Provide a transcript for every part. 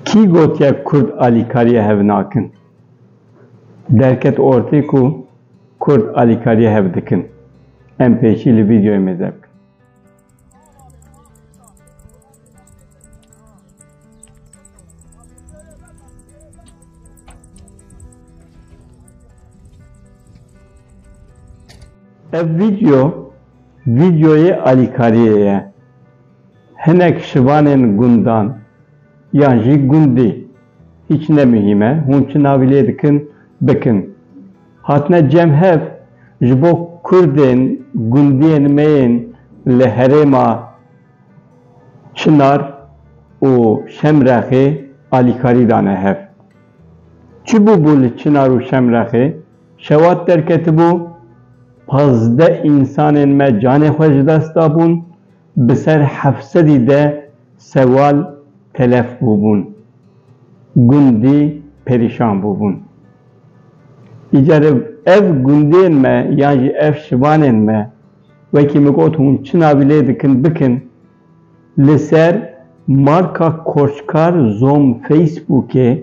Kî gotiye Kurd alîkariyê hev nakin? Derket ortê ku Kurd alîkariyê hev dikin. Em pêşî li vîdeoyê me de bikin. Ev vîdeo Vîdyoyê alîkariyê ye. Hinek şivanên gundan yan jî gundî hîç ne muhîm e, hûn çi navî lê dikin bikin, hatine cem hev ji bo kurdên gundiyên me yên li herêma Çinar û Şemrexê alîkarî dane hev. Çi bûbû li Çinar û Şemrexê? Şewat derketibû, pazdeh însanên me canê xwe ji dest dabûn, bi ser heft sedî de sewal telef bûbûn. Gundî perîşan bûbûn. Îcar re ev gundên me yan jî ev şivanên me wekî min got hûn çi navî lê dikin bikin, Li ser marka Koçkar Zom Facebookê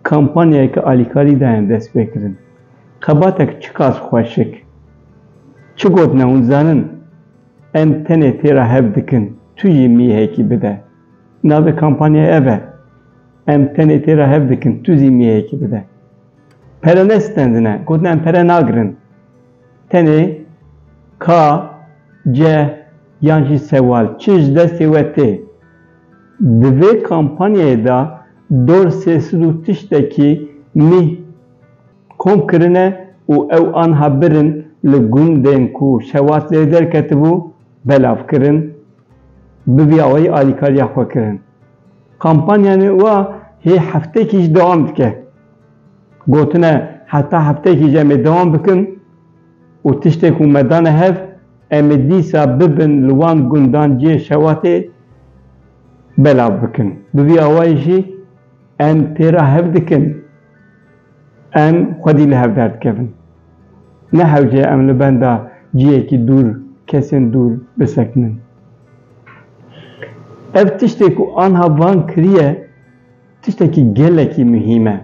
kampanyayeke alîkarî daye destpêkirin. Xebatek çiqas xweşik. Çi gotin e hûn dizanin? Em tenê tê re hev dikin, tu jî mîhekî bide. Navê kampanyayê ev e. Em tenê tê re hev dikin, tu zî mîhekî bide. Pere ne stendine, gotin em pere nagirin. Tenê ka, ceh yan jî sewal çi ji destê we tê? Di vê kampanyayê de dor sê sed û tiştekî mîh kom kirine û ew anha bir in li gundên ku şewat lê derketibû belav kirin bi vî awayî alîkariya xwe kirin. Kampanyanê wa hê heftekî jî dewam dike. Gotine heta hefteyekî jî em ê dewam bikin û tiştên ku me dane hev em ê dîsa bibin li wan gundan cihê şewatê belav bikin. Bi vî awayî jî em pê re hev dikin em xwedî li hev derdikevin. Ne hewce ye em li benda cihekî dûr, kesên dûr bisekinin. Ev tiştê ku anha van kiriye, Tiştekî gelekî muhîm e.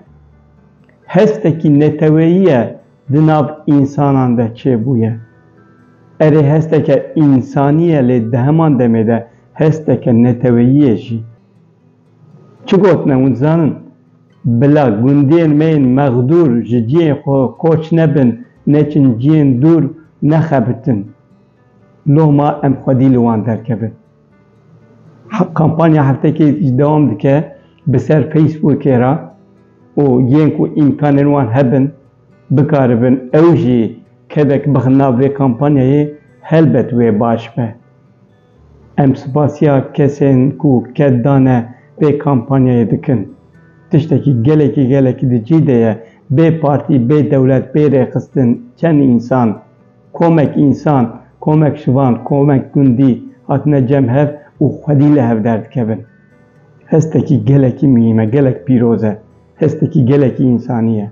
Hestekî neteweyî ye di nav însanan de çêbûye. Erê hesteke însanî ye lê di heman demê de hesteke neteweyî ye jî. Çi gotine hûn dizanin? Bila gundiyên me yên mexdûr ji ciyên xwe koç nebin, neçin ciyên dûr, nexebitin. Loma em xwedî li wan derkevin. Kampanya heftekê jî dewam dike bi ser Facebookê re û yên ku îmkanên wan hebin bikaribin ew jî kevek bixin nav vê kampanyayê helbet wê baş be. Em spasiya kesên ku ket dane vê kampanyayê dikin. Tiştekî gelekî gelekî di cî de ye bê partî, bê dewlet, bê rêxistin çend însan, Komek însan, komek şivan, komek gundî hatine cem hev û xwedî li hev derdikevin. Hestekî gelekî muhîm e, gelek pîroz e. Hestekî gelekî însanî ye.